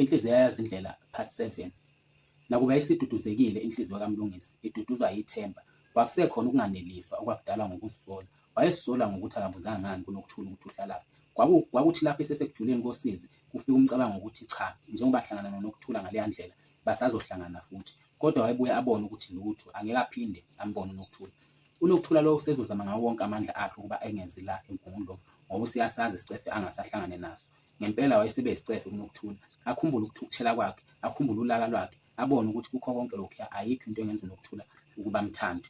Inhliziyo yayazi indlela part 7. Nakuba isiduduzekile inhliziyo kaMlungisi iduduzwa yithemba, kwakusekhona ukunganeliswa okwakudalwa ngokuzisola. Wayezisola ngokuthi akabuzanga ngani kuNokuthula ukuthi uhlalaphi. Kwaku, kwakuthi lapho esesekujuleni kosizi kufika umcabango wokuthi cha, njengoba ahlangana noNokuthula ngaleya ndlela, basazohlangana futhi. Kodwa wayebuye abone ukuthi lutho, angeke aphinde ambone uNokuthula. UNokuthula lo usezozama ngawo wonke amandla akhe ukuba engezi la eMgungundlovu ngoba useyasazi isicefe angasahlangane naso. Ngempela wayesebe yisicefe kuNokuthula. Akhumbule ukuthukuthela kwakhe, akhumbule ulaka lwakhe, abone ukuthi kukho konke lokhuya ayikho into engenza uNokuthula ukuba amthande.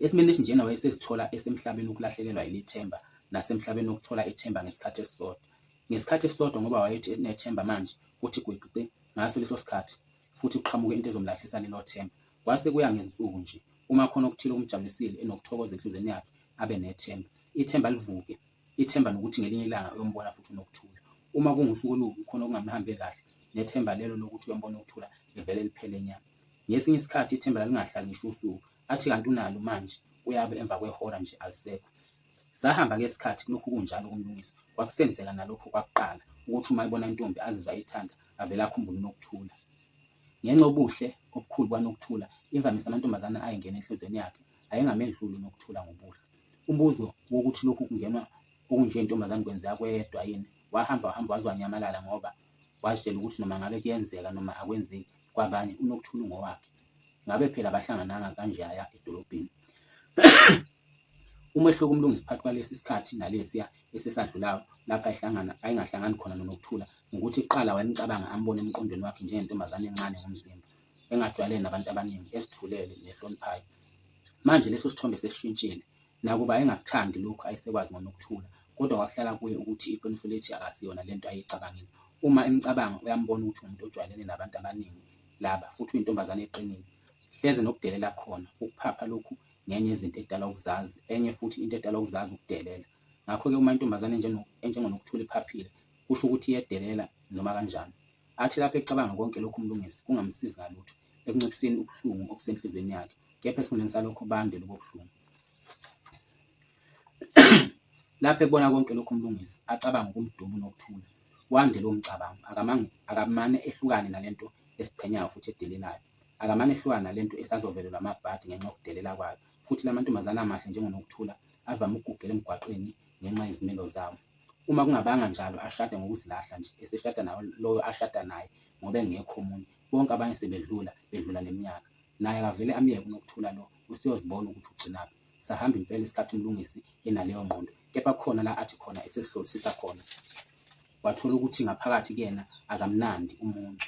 Esimeni esinjena wayesezithola esemhlabeni wokulahlekelwa yilithemba nasemhlabeni wokuthola ithemba ngesikhathi esisodwa. Ngesikhathi esisodwa ngoba wayethi enethemba manje kuthi gwiqiqi ngaso leso sikhathi futhi kuqhamuke into ezomlahlisa lelo themba. Kwase kuya ngezinsuku nje. Uma khona okuthile okumjabulisile enokuthokoza enhlizweni yakhe abe nethemba. Ithemba livuke Ithemba lokuthi ngelinye ilanga uyombona futhi uNokuthula. Uma kungusuku olubi khona okungamhambe kahle, nethemba lelo lokuthi uyombona uNokuthula livele liphele nya. Ngesinye isikhathi ithemba lalingahlali ngisho usuku, athi kanti unalo manje kuyabe emva kwehora nje alisekho. Sahamba-ke isikhathi kulokhu kunjalo kuMlungisi, kwakusenzeka nalokho kwakuqala ukuthi uma ebona intombi azizwa eyithanda avele akhumbule uNokuthula. Ngenxa yobuhle obukhulu kwaNokuthula, imvamisa amantombazane ayengena enhlizweni yakhe ayengamedluli uNokuthula ngobuhle. Umbuzo wokuthi lokhu kungenwa okunje ntombazane kwenzeka kwedwa yini wahamba wahamba waze wanyamalala ngoba wazitshela ukuthi noma ngabe kuyenzeka noma akwenzeki kwabanye unokuthula ungowakhe. Ngabe phela abahlangananga kanje aya edolobheni. Umehluko uMlungisi phakathi kwalesi sikhathi nalesiya esesadlulayo lapha ehlangana ayengahlangani khona noNokuthula ngukuthi kuqala wayemcabanga ambone emqondweni wakhe njengentombazane encane ngomzimba engajwayele nabantu abaningi, ezithulele nehloniphayo. Manje leso sithombe sesishintshile. Nakuba ayengakuthandi lokhu ayesekwazi ngoNokuthula, kodwa kwakuhlala kuye ukuthi iqiniso lithi akasiyona le nto ayeyicabangile. Uma emcabanga, uyambona ukuthi uwumuntu ojwayelene nabantu abaningi laba, futhi uyintombazane eqinile. Hleze nokudelela khona, ukuphapha lokhu ngenye yezinto edala ukuzazi, enye futhi into edala ukuzazi ukudelela. Ngakho-ke uma intombazane enjengoNokuthula iphaphile, kusho ukuthi iyedelela noma kanjani. Athi lapho ecabanga konke lokhu uMlungisi kungamsizi ngalutho ekunciphiseni ubuhlungu obusenhliziyweni yakhe, kepha esikhundleni salokho bande lobo buhlungu. Lapho ekubona konke lokhu uMlungisi acabanga ukumdubu nokuthula, wande lowo mcabango, akamane, akamane ehlukane nalento esiqhenyayo futhi edelelayo. Akamane ehlukane nalento esazovelelwa amabhadi ngenxa yokudelela kwayo, futhi lamantombazane amahle njengoNokuthula avame ukugugela emgwaqeni ngenxa yezimilo zabo. Uma kungabanga njalo ashade ngokuzilahla nje, eseshada nawo loyo ashada naye ngoba engekho omunye. Bonke abanye sebedlula, bedlula neminyaka. Naye akavele amyeke uNokuthula lo, useyozibona ukuthi ugcinaphi. Sahamba impela isikhathi uMlungisi enaleyo ngqondo, kepha kukhona la athi khona esesihlolisisa khona wathola ukuthi ngaphakathi kuyena akamnandi umuncu.